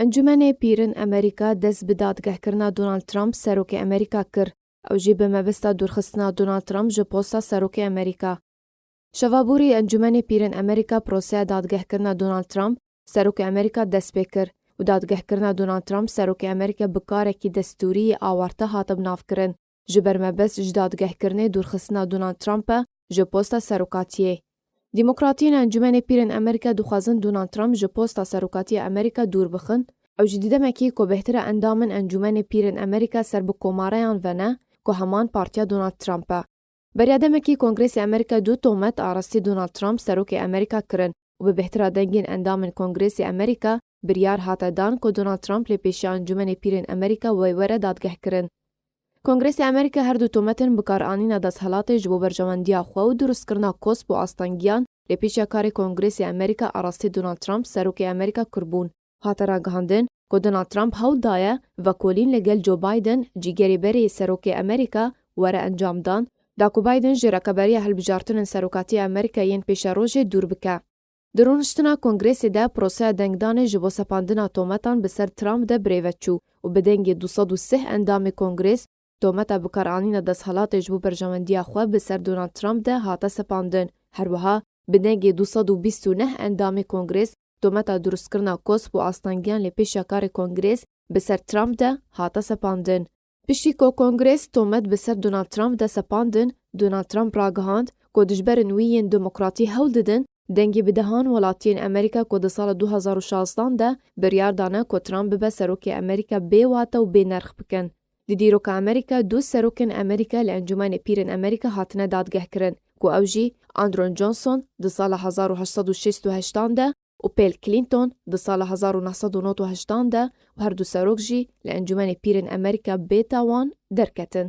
Encûmenê Pîrin Amerîka dest bi dadgehkirina Donald Trump Serokê Amerîka kir, ew jî bi mebesta dûrxistina Donald Trump ji posta Serokê Amerîka. Şeva borî Encûmenê Pîrin Amerîka proseya dadgehkirina Donald Trump Serokê Amerîka dest pê kir û dadgehkirina Donald Trump Serokê Amerîka bi karekî destûrî yê awarta hate binavkirin. ji ber mebest ji dadgehkirinê dûrxistina Donald Trump e ji posta serokatiyê. Demokratiyên Encûmenê Pîrên Amerîka dixwazin Donald Trump ji posta serokatiya Amerîka dûr bixin, ew ji dîdemekî ku bêhtir e endamên Encûmenê Pîrên Amerîka ser bi komareyan ve ne ku heman partiya Donald Trump e. Beriya demekî Kongresê Amerîka du tohmet a rastî Donald Trump serokê Amerîka kirin û bi bêhtira dengên endamên Kongresê Amerîka, Biryar hate dan ku Donald Trump lê pêşiya Encûmenê Pîrên Amerîka wê were dadgehkirin. Kongresê Amerîka her du tometên bikaranîna desthilatê ji bo berjewendiya xwe û durustkirina kosp û astengiyan lê pêşiya karê Kongresê Amerîka arastî Donald Trump serokê Amerîka kir bûn. Hate ragihandin ku Donald Trump hewl daye vekolîn li gel Joe Biden cîgerê berê yê serokê Amerîka were encam dan da ku Biden ji rekeberiya hilbijartinên serokatiyê Amerîka yên pêşerojê dûr bike. Di rûniştina kongresê de proseya dengdanê ji bo sepandina tometan bi ser Trump de birêve çû û bi dengê du sed û sih endamê kongrês tometa bikaranîna desthilatê ji bo berjewendiya xwe bi ser Donald Trump de hate sepandin. Herwiha bi dengê du sed û bîst û neh endamê kongrês tometa durustkirina kosp û astangiyan lê pêşiya karê kongrês bi ser Trump de hate sepandin. Piştî ku Kongress tomet bi ser Donald Trump de sepandin, Donald Trump ragihand ku dijberên wî yên demokratî hewl didin dengê bi dehan welatiyên Amerîka ku di sala du hezar û şazdan de biryar dane ku Trump bibe serokê Amerîka bê wate û bê nerx bikin. Di dîroka Amerîka du serokên Amerîka li Encûmenê Pîrên Amerîka hatine dadgehkirin ku ew jî Andron Johnson di sala hezar û heşt sed û şêst û heştan de û Pêl Clinton di sala hezar û neh sed û nod û heştan de û her du serok jî li Encûmenê Pîrên Emerîka bêta wan derketin.